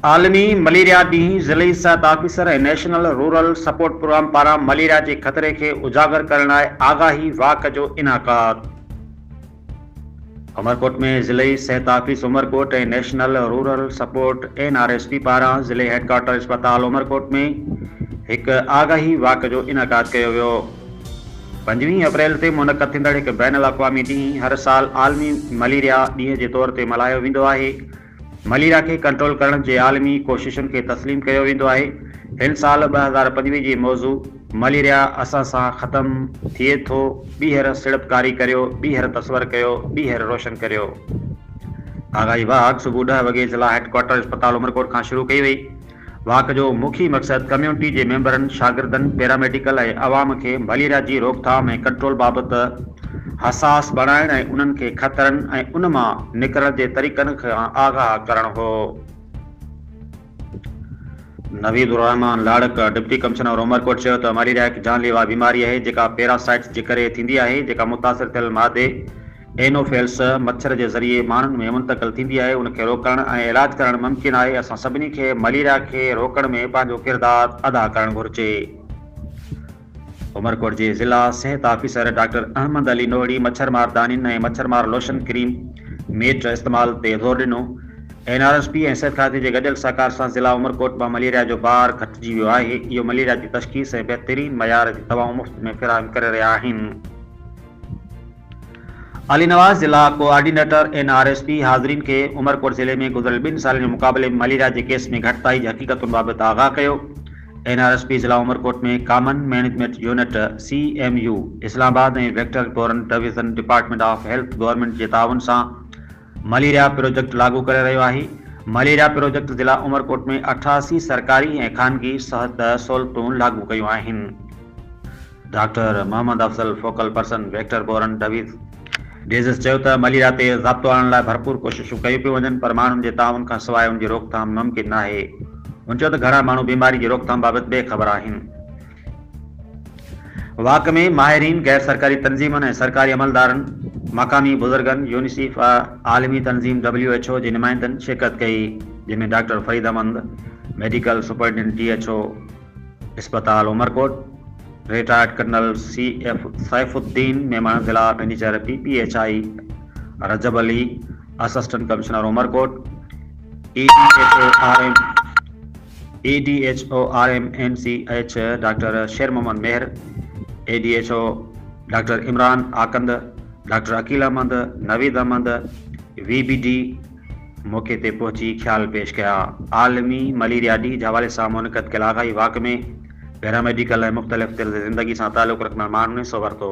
عالمي مليريا ڏينهن ضلعي صحت officer ۽ national rural support program پاران مليريا جي خطري کي اجاگر ڪرڻ لاء آگاهي واڪ جو انعقاد. عمرڪوٽ ۾ ضلعي صحت office Umerkot ۽ national rural support, N R S P, پاران ضلعي هيڊڪوارٽر اسپتال عمرڪوٽ ۾ هڪ آگاهي واڪ جو انعقاد ڪيو ويو. پنجويهين اپريل تي منعقد ٿيندڙ هڪ بين الاقوامي ڏينهن هر سال عالمي مليريا ڏينهن جي طور تي ملهايو ويندو آهي، مليريا کي ڪنٽرول ڪرڻ جي عالمي ڪوششن کي تسليم ڪيو ويندو آهي. هن سال ٻه هزار پنجويهه جي موضوع مليريا اسان سان ختم ٿئي ٿو ٻيهر سيڙپڪاري ڪريو ٻيهر تصور ڪيو ٻيهر روشن ڪريو. آگاهي واهه صبح ڏهه وڳي ضلع هيڊ ڪوارٽر اسپتال عمرڪوٽ کان شروع ڪئي وئي. واڪ جو مکيه مقصد ڪميونٽي جي ميمبرن، شاگردن، پيراميڊيڪل ۽ عوام کي مليريا جي روڪٿام ۽ ڪنٽرول بابت حساس بڻائڻ ۽ انهن کي خطرن ۽ ان مان نڪرڻ جي طريقن کان آگاهه ڪرڻ هو. Naveed Ur-Rehman Larik, deputy commissioner of Umerkot چيو ته مليريا هڪ جان ليوا بيماري آهي جيڪا پيراسائٽس جي ڪري ٿيندي آهي جيڪا متاثر ٿيل مادي، اينوفيلس مڇر جي ذريعي ماڻهن ۾ منتقل ٿيندي آهي ان کي روڪڻ ۽ علاج ڪرڻ ممڪن آهي اسان سڀني کي مليريا کي روڪڻ ۾ پنهنجو ڪردار ادا ڪرڻ گهرجي عمرڪوٽ جي ضلع صحت آفيسر ڊاڪٽر احمد علي نوڙي مڇر مار دانين ۽ مڇر مار لوشن ڪريم ميٽ استعمال تي زور ڏنو اين آر ايس پي ۽ صحت کاتي جي گڏيل سهڪار سان ضلع عمرڪوٽ مان مليريا جو بار گهٽجي ويو آهي اهو مليريا جي تشخيص ۽ بهترين معيار جي دوائون مفت ۾ فراهم ڪري رهيا آهن علي نواز ضلع coordinator N R S P حاضرين کي عمرڪوٽ ضلعي ۾ گذريل ٻن سالن جي مقابلي ۾ مليريا جي ڪيس ۾ گهٽتائي جي حقيقتن بابت آگاهه ڪيو. اين آر ايس پي ضلع Umerkot ۾ common management unit, C M U, Islamabad ۽ vector governor division department of health government جي تعاون سان، مليريا پروجيڪٽ لاڳو ڪري رهيو آهي، مليريا پروجيڪٽ ضلع عمرڪوٽ ۾ اٺاسي سرڪاري ۽ خانگي صحت سهولتون لاڳو ڪيون آهن. Doctor Muhammad Afzal focal person vector borne disease disease چيو ته مليريا تي ضابطو آڻڻ لاء ڀرپور ڪوششون ڪيون پيون وڃن پر ماڻهن جي تعاون کان سواء ان جي روڪٿام ممڪن ناهي. هن چيو ته گهڻا ماڻهو بيماري جي روڪٿام بابت بي خبر آهن. واڪ ۾ ماهرين، غير سرڪاري تنظيمن ۽ سرڪاري عملدارن، مقامي بزرگن، يونيسيف ۽ عالمي تنظيم ڊبليو ايڇ او جي نمائندن شرڪت ڪئي، جنهن ۾ doctor Farid Ahmed, medical superintendent D H O اسپتال Umerkot, retired colonel C F Saif ud-Din Memon, ضلع manager P P H I Rajab Ali, assistant commissioner Umerkot, A D H O R M, A D H O R M N C H doctor Sher Muhammad Mehr, A D H O doctor Imran Akund, doctor Aqeel Ahmed, Naveed Ahmed, وي بي ڊي موقعي تي پهچي خيال پيش ڪيا. عالمي مليريا ڏينهن جي حوالي سان منعقد ڪيل آگاهي واڪ ۾ پيراميڊيڪل ۽ مختلف طرز زندگي سان تعلق رکندڙ ماڻهن حصو ورتو.